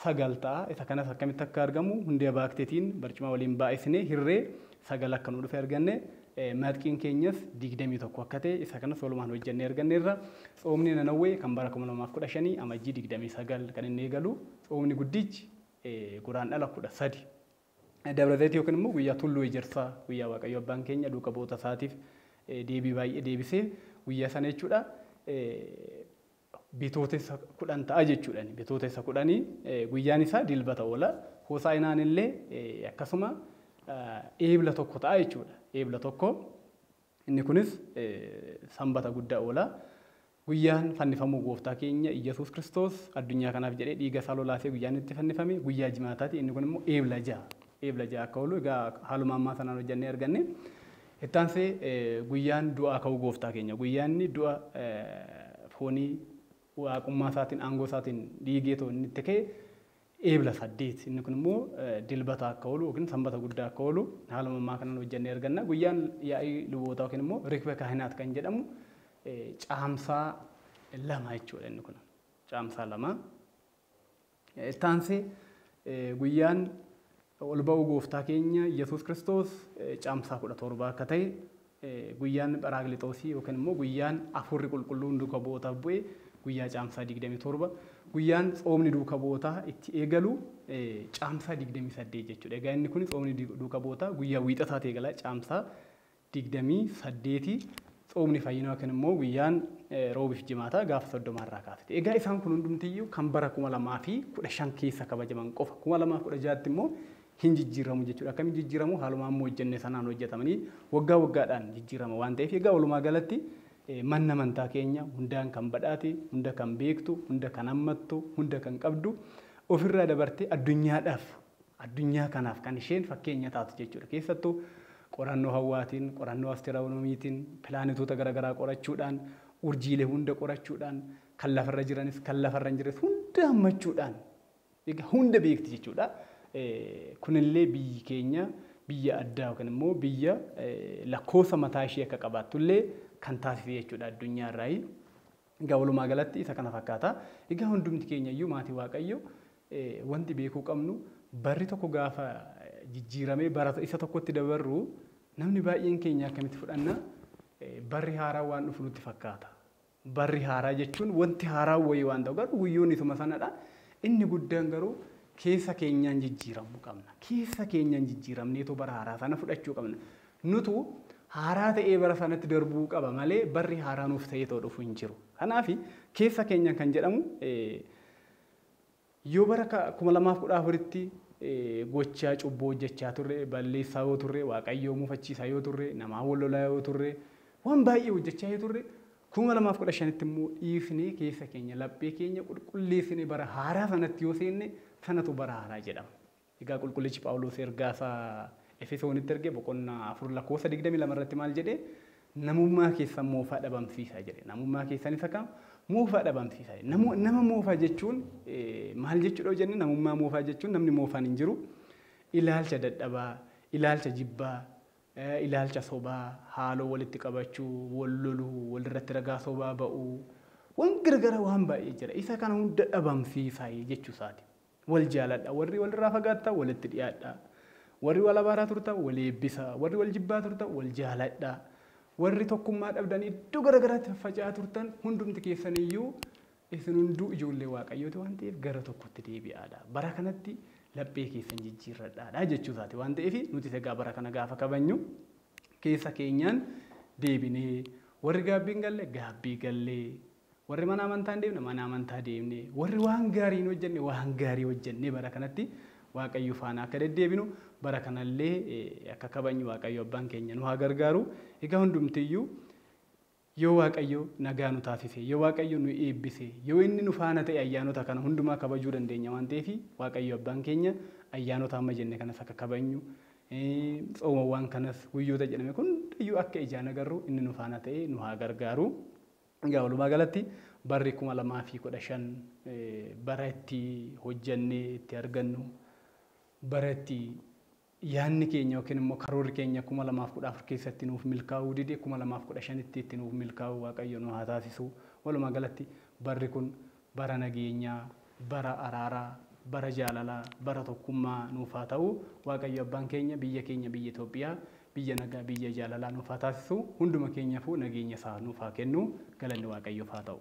9 ta'a. Isa kanas akkamitti akka argamu hundee baakteetiin barcuma waliin baay'isnee hirree 9 akka nuu dhufe arganne. Matqiin keenyas 21 akka ta'e isa kanas walumaan hojjennee arganneerra. Tsoomni Nanawwee kan bara 2015 Amajjii 29 kan inni eegalu. Tsoomni guddichi Guraandhala 13 Dabra Zayit yookiin immoo guyyaa Tulluu Ejersaa guyyaa Waaqayyo Abbaan keenya duuka bu'oota isaatiif deebii baay'ee deebisee guyyaa sana jechuudha. Bitootessa 10 ta'a jechuudha. Bitootessa 10 guyyaan isaa Dilbata oola. Hosaa'inaan illee akkasuma Eebla 1 ta'a jechuudha. Eebla 1 inni kunis Sanbata guddaa oola. Guyyaan fannifamuu gooftaa keenya Iyyasuus Kiristoos addunyaa kanaaf jedhee dhiiga isaa lolaasee guyyaan itti fannifame guyyaa jimaataati. Inni kun immoo Eebla 6. Eebla 6 akka oolu egaa haaluma ammaa sanaan hojjannee arganne. Itti aansee guyyaan du'aa ka'uu gooftaa keenya, guyyaa inni du'a foonii waaqummaa isaatiin, aangoo isaatiin dhiigee too inni itti ka'e eebla saddeet. Inni kun immoo dilbata akka oolu yookiin sanbata guddaa akka oolu haaluma ammaa kanaan hojjannee arganna. Guyyaan yaa'ii lubootaa yookiin immoo rikbe kaahinaat kan jedhamu caamsaa lama jechuudha inni kun. Caamsaa lama. Itti aansee guyyaan ol ba'uu gooftaa keenya Yesuus Kiristoos caamsaa kudha torba akka ta'e guyyaan Pharaaklixoosii yookiin immoo guyyaan Afuurri Qulqulluun duuka bu'ootaaf bu'e guyyaa caamsaa 27 guyyaan tsoomni duuka bu'ootaa itti eegalu caamsaa 28 jechuudha. Egaa inni kun tsoomni duuka bu'ootaa guyyaa wiixataati eegala caamsaa 28 Tsoomni fayyinaa yookiin immoo guyyaan Roobii fi Jimaataa gaafa 30 irraa kaaseti. Egaa isaan kun hundumti iyyuu kan bara 2015 keessa kabajaman qofa. 2016tti immoo hin jijjiirramu jechuudha. Akkamiin jijjiirramu? Haaluma amma hojjenne sanaan hojjetamanii waggaa waggaadhaan jijjiirrama waan ta'eef egaa walumaa galatti manni amantaa keenya hundaan kan badhaate, hunda kan beektu, hunda kan hammattu, hunda kan qabdu ofirraa dabartee addunyaadhaaf addunyaa kanaaf kan isheen fakkeenya taatu jechuudha. Keessattuu qorannoo hawwaatiin, qorannoo asterawunomiitiin, pilaanetoota gara garaa qorachuudhaan, urjiilee hunda qorachuudhaan, kan lafarra jiranis kan lafarra hin jirres hunda hammachuudhaan egaa hunda beekti jechuudha. Kunillee biyyi keenya biyya addaa yookiin immoo biyya lakkoofsa mataa ishee akka qabaattullee kan taasise jechuudha addunyaa irraayi. Egaa walumaa galatti isa kana fakkaata. Egaa hundumti keenya iyyuu maatii Waaqayyo wanti beekuu qabnu barri tokko gaafa jijjiiramee bara isa tokkotti dabarru namni baay'een keenya akkamitti fudhanna barri haaraa waan dhufu nutti fakkaata. Barri haaraa jechuun wanti haaraa wayii waan ta'u garuu guyyoonni isuma sanadha. Inni guddaan garuu keessa keenyaan jijjiiramuu qabna. Keessa keenyaan jijjiiramneetoo bara haaraa sana fudhachuu qabna. Nutu haaraa ta'ee bara sanatti darbuu qaba malee barri haaraa nuuf ta'ee too dhufu hin jiru. Kanaafi keessa keenyan kan jedhamu yoo bara 2014tti gochaa cubbuu hojjachaa turre, balleessaa yoo turre, Waaqayyoo mufachiisaa yoo turre, namaa wal lolaa yoo turre, waan baay'ee hojjachaa yoo turre 2015tti immoo dhiifnee keessa keenya, laphee keenya qulqulleessinee bara haaraa sanatti yoo seenne sanatu bara haaraa jedhama. Egaa Qulqullichi Phaawulos ergaa isaa Efesoonitti erge boqonnaa 4 lakkoofsa 22 irratti maal jedhe? Namummaa keessan moofaa dhabamsiisaa jedhe. Namummaa keessan isa kam? Moofaa dhabamsiisaa jedhe. Namu, nama moofaa jechuun eh, maal jechuudha yoo jenne namummaa moofaa jechuun namni moofaan hin jiru. Ilaalcha dadhabaa, ilaalcha jibbaa, eh, ilaalcha sobaa, haaloo walitti qabachuu, wal loluu, walirratti ragaa sobaa ba'uu, waan garagaraa waan baay'ee jira. Isa kana hunda dhabamsiisaa jechuu isaati. Wal jaaladhaa. Warri wal irraa fagaattan walitti dhiyaadhaa. Warri wal abaaraa turtan wal eebbisaa. Warri wal jibbaa turtan wal jaaladhaa. Warri tokkummaa dhabdanii iddoo gara garaatti faffaca'aa turtan hundumti keessan iyyuu isin hunduu ijoollee Waaqayyooti waan ta'eef gara tokkotti deebi'aadhaa. Bara kanatti laphee keessan jijjiirradhaadhaa jechuu isaati waan ta'eef nutis egaa bara kana gaafa kabajnu keessa keenyaan deebinee warri gaabbii hin galle gaabbii gallee Warri mana amantaa hin deemne mana amantaa deemne, warri waan gaarii hin hojjenne waan gaarii hojjennee bara kanatti Waaqayyo faana akka deddeebinu, bara kanallee akka kabajnu Waaqayyo Abbaan keenya nu haa gargaaru. Egaa hundumtiyyuu yoo Waaqayyo nagaa nu taasise, yoo Waaqayyo nu eebbise, yoo inni nu faana ta'e ayyaanota kana hundumaa kabajuu dandeenya waan ta'eef Waaqayyo Abbaan keenya ayyaanota amma jenne kanas akka kabajnu, tsoomawwan kanas guyyoota jedhame hundayyuu akka ijaan agarru inni nu faana ta'ee nu haa gargaaru. Egaa walumaa galatti barri 2015 bara itti hojjannee itti argannu bara itti yaanni keenya yookiin immoo karoorri keenya 2014 keessatti nuuf milkaa'uu dide 2015tti itti nuuf milkaa'uu waaqayyo nu haa taasisu. Walumaa galatti barri kun Bara nageenyaa, bara araaraa, bara jaalalaa, bara tokkummaa nuuf haa ta'u. Waaqayyo Abbaan keenya biyya keenya biyya Itoophiyaa biyya nagaa, biyya jaalalaa nuuf haa taasisu. Hunduma keenyafuu nageenya isaa nuuf haa kennu. Galanni Waaqayyoof haa ta'u.